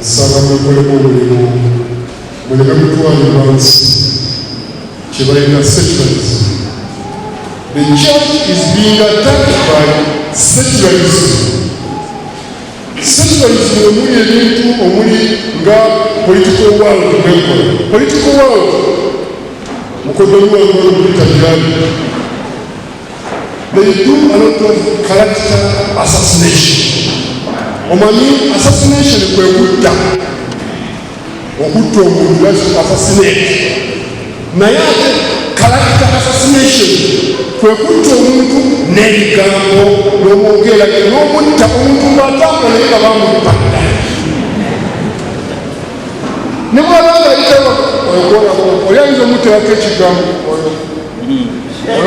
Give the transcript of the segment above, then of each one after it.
Nsaba mwekolemu omulimu muleme kutwalibwa nsi kyebalina secularism. The church is being attacked by secularism. Secularism omuli ebintu omuli nga political world mwekola political world mukodomi wange olumulitabirani omanyi assassination kwe kutta okutta omuntu assassinate naye ate character assassination kwe kutta omuntu n'ebigambo n'omwogeera n'omutta omuntu ng'atambula naye nga bamutta ne bwaba nga yitawa oyo gwolaba oli ayinza omuteerako ekigambo oyo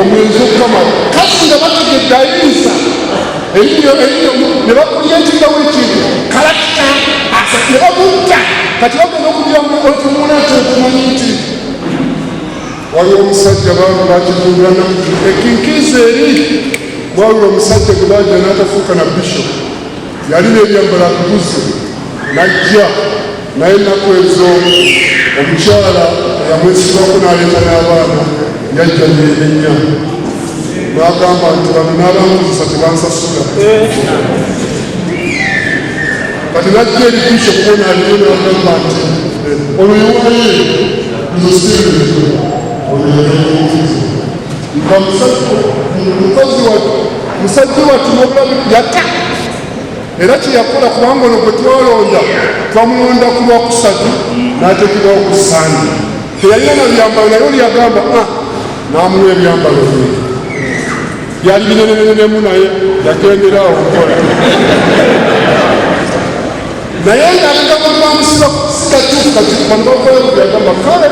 omuyinza okukama kati nga bategedde ayinza eriyo eriyo ne bakulira ekigawo ekintu kalakita asa ne bamutta kati bagenda okugira mu otumuna nti otumanyi nti waliwo omusajja bantu bakizuulira nakuti ekinkiiza eri waliwo omusajja gwe bajja n'atafuuka na bishop Yalina ebyambala kubuze najja naye ennaku ezo omukyala eyamwesibako n'aleeta n'abaana yajja neerenya n'agamba nti bano n'abankozesa tebansasula kati najja erikiso kubona aliyo n'agamba nti ono yewaye nzosireeto oyo yayaomukazi wa musajja wattu nobulabi yata era kyeyakola kubanga ono gwe twalonda twamulonda ku lwakusatu n'ateekebwawo ku sande teyalina na byambalo naye oli yagamba ah, n'amuwa ebyambalo bye byali binenenenemu naye yagendera awo nkola naye ng'alinga kubamusiba sikatuufu kati bano bakola byagamba kale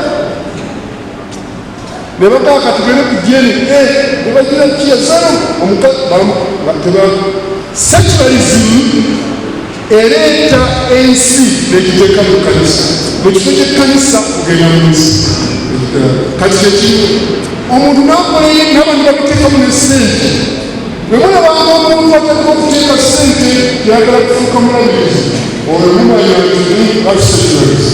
ne bagaa kati bere ku jeri eh, ne bagira kiyazamu omukazi sekibalizimu ereeta ensi negiteeka mu kanisa mu kifo kyekkanisa kugenda mu nsi kati kyekimu omuntu nakola nabantu bakuteekamu ne sente wemuna banga omuntu ateka okuteeka sente yagala kufuuka mulabirizi oyo mumanya nti abisekibalizi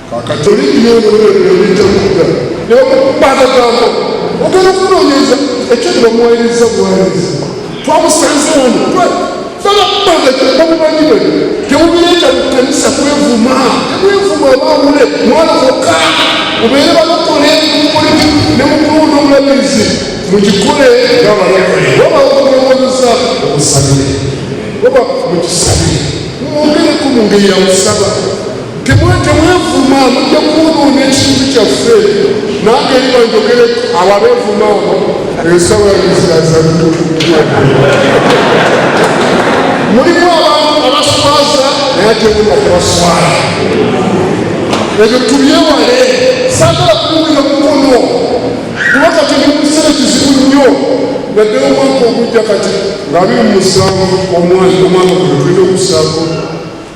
kakatoli nyonoeebitakudda naye okubaagagambo ogenda okunoonyeza ekyo ne bamuwayiriza buwayiriza twamusanze wano fanakubaagaobumanyi bwe tebubireeta mu kanisa kwevuma temwevuma abawule mwana wokka ubeere balokole mukoleki ne mukulunda omulabirizi mugikole nga balokole oba okunoonyeza okusabire oba mukisabire mwongereko mu ngeri ya musaba temwevuma mujja kwonoona ekintu kyaffe nange liba njogere abo abevuma abo ensawa yizazabitokukua mulimu abantu abaswaza naye atemuka kubaswala ebyo tubyewale sagala kuliwulira mukono kuba kati ndi mukiseera kizibu nnyo naddala omwaka ogujja kati nga biri mu musanvu omwana omwana gwe tulina okusaako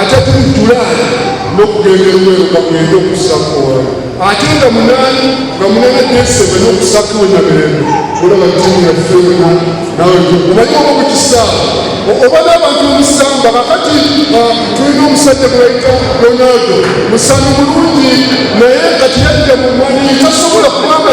ate tuli julaani n'okugenda eruweero nga mwenda okusakuwala ate nga munaani nga munana desebe n'okusakuwe na mirembe olaba ttiimu yaffe yona nawe omanyi oba mu kisaawa oba n'abantu omusamba kakati ah, tulina omusajja gweyita ronaldo musambi mulungi naye kati yajja mu mwanyi tasobola kubanga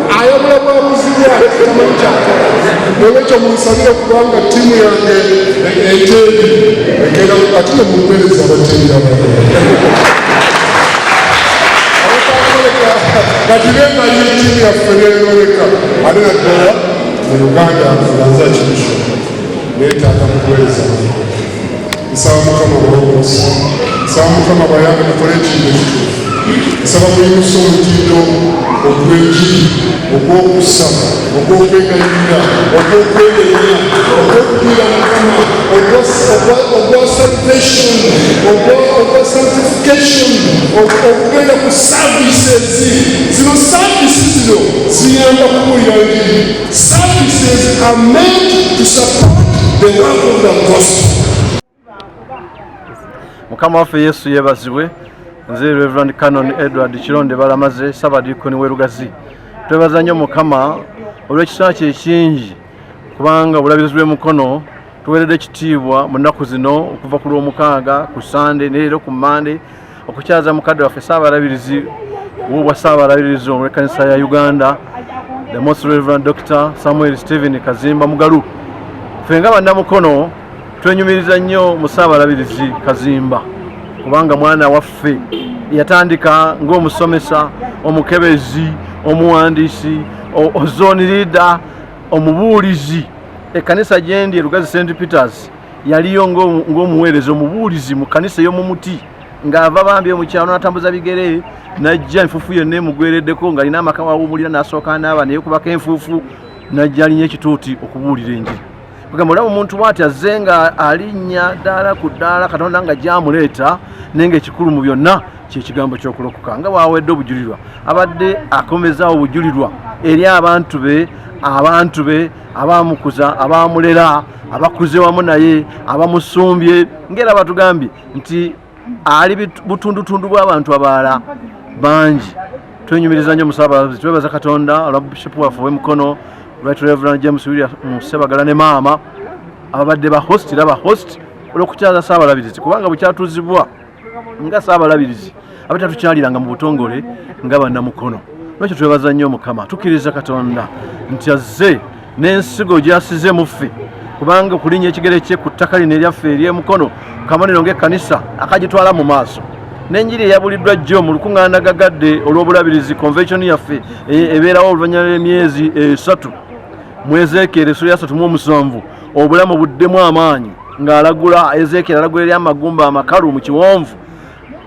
ayogera bwabuzi bwaki tamanyi kyakola olwekyo munsabire kubanga ttiimu yange eteeri egenda ate ne mumuweereza abateeri kati bemanyi ttiimu yaffe neyoleka ate naddala mu uganda nzanza kimisho neetaaga mukuweereza nsaba mukama obulokozi nsaba mukama bayambe mukole ekintu ekituufu nsaba muyimusa omutindo ogw'enjiri ogw'okusa ogw'okwegayirira ogw'okwegerera ogw'okugira mukama ogwa salvation ogwa sanctification okugenda ku services zino service zino ziyamba kubuulira njiri Services are meant to support the work of the gospel. Mukama waffe Yesu yebazibwe nze Reverend Canon Edward Kironde Balamaze Sabadiikoni w'e Lugazi twebaza nnyo Mukama olw'ekisa kye ekingi kubanga obulabirizi bw'emukono tuweeredde ekitiibwa mu nnaku zino okuva ku lw'omukaaga ku sande neero ku mande okukyaza mukadde waffe saabalabirizi wobwa saabalabirizi olwekanisa ya uganda the most reverend dr samuel stephen kazimba mugalu ffe nga bannamukono twenyumiriza nnyo mu saabalabirizi kazimba kubanga mwana waffe yatandika ng'omusomesa omukebezi omuwandiisi ozoni liida omubuulizi ekkanisa gyendi erugazi st peters yaliyo ng'omuweereza omubuulizi mu kkanisa ey'omu muti ng'ava bambi omu kyalo n'atambuza bigere n'ajja enfuufu yonna emugwereddeko ng'alina amaka wawuumulira n'asooka n'aba naye kubako enfuufu n'ajja alinya ekituuti okubuulira enjiri kugamba olaba omuntu bwati azze nga alinnya ddaala ku ddaala katonda nga gyamuleeta naye ng'ekikulu mu byonna kyekigambo ky'okulokoka nga bwawedde obujulirwa abadde akomezaawo obujulirwa eri abantu be abantu be abaamukuza abaamulera abakuze wamu naye abamusumbye ngera batugambye nti ali butundutundu bw'abantu abalala bangi twenyumiriza nnyo musaabazi twebaza katonda olwa bishopu waffe ow'emikono right reverend james william musebagala ne maama ababadde ba host era ba host olw'okukyaza saabalabirizi kubanga bwekyatuzibwa nga saabalabirizi abatatukyaliranga mu butongole nga bannamukono lwekyo twebaza nnyo mukama tukkiriza katonda nti azze n'ensigo gyasize muffe kubanga okulinya ekigere kye ku ttaka lino eryaffe eryemukono kabonero ngaekkanisa akagitwala mu maaso n'enjiri eyabuliddwa jjo mu lukuŋŋaana gagadde olw'obulabirizi convention yaffe e- ebeerawo oluvannyuma lw'emyezi esatu mwezeekeera esula yasatu mu omusanvu obulamu buddemu amaanyi ng'alagula ezeekyera alagula eri amagumba amakalu mu kiwonvu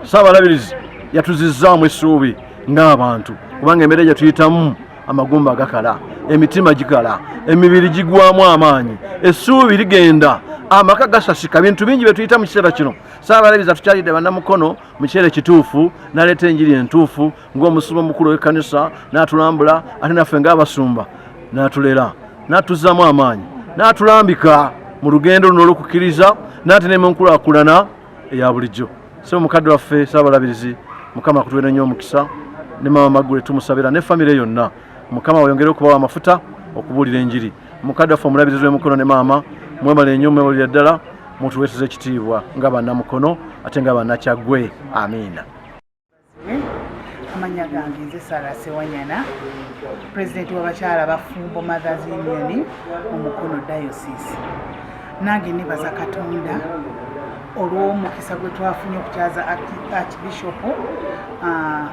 ssaabalabirizi yatuzizzaamu essuubi ng'abantu kubanga embeera gye tuyitamu amagumba gakala emitima gikala emibiri gigwamu amaanyi essuubi ligenda amaka gasasika bintu bingi bye tuyita mu kiseera kino ssaabalabirizi atukyalidde bannamukono mu kiseera ekituufu naleeta enjiri entuufu ng'omusumba omukulu w'ekkanisa n'atulambula ate naffe ng'abasumba n'atulera n'atuzzaamu amaanyi n'atulambika mu lugendo luno olw'okukkiriza n'ate ne mu nkulakulana eya bulijjo so mukadde waffe saabalabirizi mukama akutuwere nnyo omukisa ne maama magule tumusabira ne famire yonna mukama weyongere okubawa amafuta okubuulira enjiri mukadde waffe omulabirizi w'emukono ne maama mwebale nnyo mwebulira ddala mutuweeseza ekitiibwa nga bannamukono ate nga bannakyagwe amiina amanya gange nze sara sewanyana president wabakyala bafumbo mothers union mu mukono diocese nange nebaza katonda olw'omukisa gwe twafunye okukyaza archbishop ah,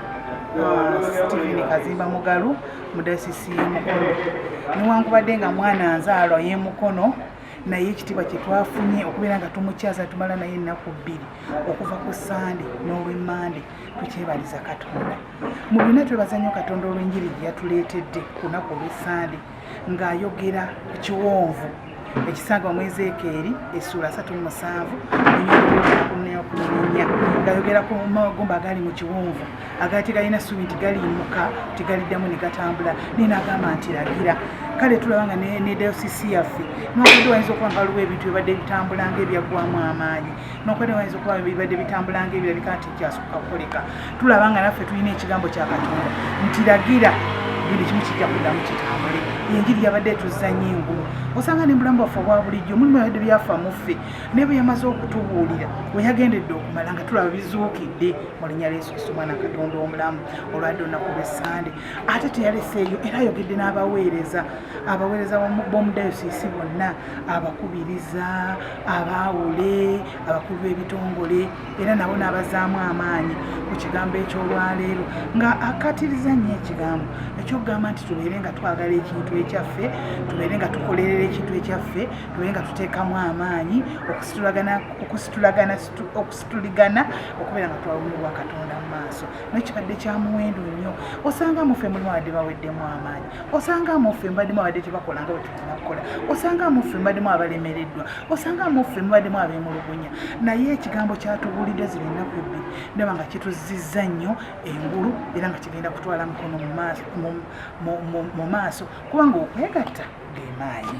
Steven Kazimba Mugalu mu dayosisi y'e Mukono newankubadde nga mwana nzaalwa y'e Mukono naye ekitiibwa kye twafunye okubeera nga tumukyaza tumala naye ennaku bbiri okuva ku sande n'olwemmande tukyebaliza katonda mu byonna twebaza nnyo katonda olw'enjiri gye yatuleetedde ku lunaku olw'essande ng'ayogera ku kiwonvu ekisangibwa mu ezeekeeri essuula asatu mu musanvu enyokunya ngayogera ku magumba agali mu kiwonvu agali tegalina ssuubi nti galiimuka tegaliddamu ne gatambula naye nagamba nti lagira kale tulaba nga ne dayosisi yaffe nwakudiwayinza okuba nga waliwo ebintu ebibadde bitambula nga ebyaggwamu amaanyi nokwera wayinza okuba bibadde bitambula ngaebirabika nti kyasooka kukoleka tulaba nga naffe tulina ekigambo kya katonda nti lagira buli kimu kijja kuddamu kitambule enjiri yabadde etuzanya engulu osanga ne mulamu bwaffe obwa bulijjo mulimu yabadde byafa muffe naye bwe yamaze okutubuulira we yagendedde okumala nga tulaba bizuukidde mu linnya lyesu kristo mwana katonda omulamu olwadde olunaku lwessande ate teyaleseeyo era ayogedde n'abaweereza abaweereza b'omudayosiisi bonna abakubiriza abaawule abakulu b'ebitongole era nabo n'abazaamu amaanyi ku kigambo eky'olwaleero nga akatiriza nnyo ekigambo ekyokugamba nti tubeere nga twagala ekintu ekyaffe tubeere nga tukolerera ekintu ekyaffe tubeere nga tuteekamu amaanyi okusituligana okubeera nga twawumibwa katonda mu maaso naye kibadde kya muwendo nnyo osanga mufe mulimu abadde baweddemu amaanyi osanga mufe mbadde mu abadde tebakola nga nakukola osanga muffe mubademu abalemereddwa osanga muffe mubademu abemulugunya naye ekigambo kyatubuulidde zino ennaku ebbi ndaba nga kituzizza nnyo engulu era nga kigenda kutwala mukono mu maaso kubanga okwegatta gemaanyi